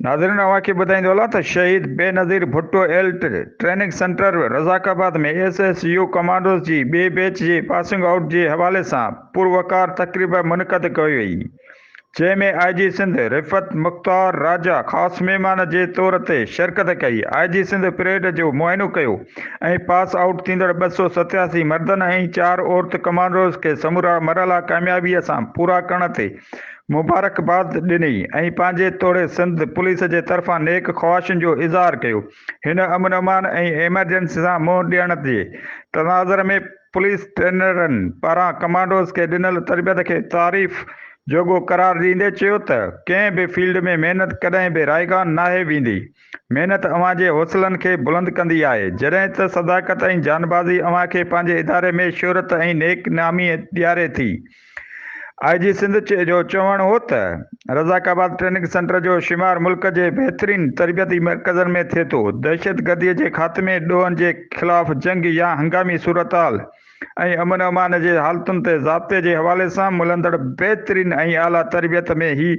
ناظرين اوهان کي ٻڌائيندو هلان ته Shaheed Benazir Bhutto elite training centre Razzaqabad ۾ S S U commandos جي ٻئي بيچ جي پاسنگ آئوٽ جي حوالي سان پروقار تقريب منعقد ڪئي وئي جنهن ۾ آء جي سنڌ رفعت مختار راجا خاص مهمان جي طور تي شرڪت ڪئي، آء جي سنڌ پريڊ جو معائنو ڪيو ۽ پاس آئوٽ ٿيندڙ ٻه سؤ ستياسي مردن ۽ چار عورت ڪمانڊوز کي سمورا مرحلا ڪاميابيء سان پورا ڪرڻ تي مبارڪباد ڏني ۽ پنهنجي توڙي سنڌ پوليس جي طرفان نيڪ خواهشن جو اظهار ڪيو. هن امن امان ۽ ايمرجنسي سان منهن ڏيڻ جي تناظر ۾ پوليس ٽرينرن پاران ڪمانڊوز کي ڏنل تربيت کي تعريف جوڳو قرار ڏيندي چيو ته ڪنهن به فيلڊ ۾ محنت ڪڏهن به رائيگان ناهي ويندي، محنت اوهان جي حوصلن کي بلند ڪندي آهي، جڏهن ته صداقت ۽ جانبازي اوهان کي پنهنجي اداري ۾ شهرت ۽ نيڪ نامي ڏياري ٿي. آء جي سنڌ جو چوڻ هو ته رزاق آباد ٽريننگ سينٽر جو شمار ملڪ جي بهترين تربيتي مرڪزن ۾ ٿئي ٿو، دهشتگردي جي خاتمي، ڏوهن جي خلاف جنگ يا هنگامي صورتحال ۽ امن امان جي حالتن تي ضابطي جي حوالي سان ملندڙ بهترين ۽ اعليٰ تربيت ۾ هي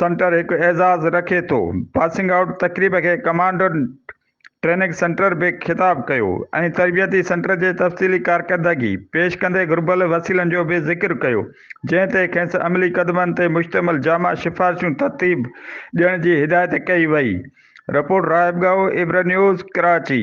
سينٽر هڪ اعزاز رکي ٿو. پاسنگ آئوٽ تقريب کي ڪمانڊنٽ ٽريننگ سينٽر به خطاب ڪيو ۽ تربيتي سينٽر جي تفصيلي ڪارڪردگي پيش ڪندي گهربل وسيلن جو به ذڪر ڪيو جنهن تي کيس عملي قدمن تي مشتمل جامع سفارشون ترتيب ڏيڻ جي هدايت ڪئي وئي رپورٽ راهب ڳائو ابر نيوز ڪراچي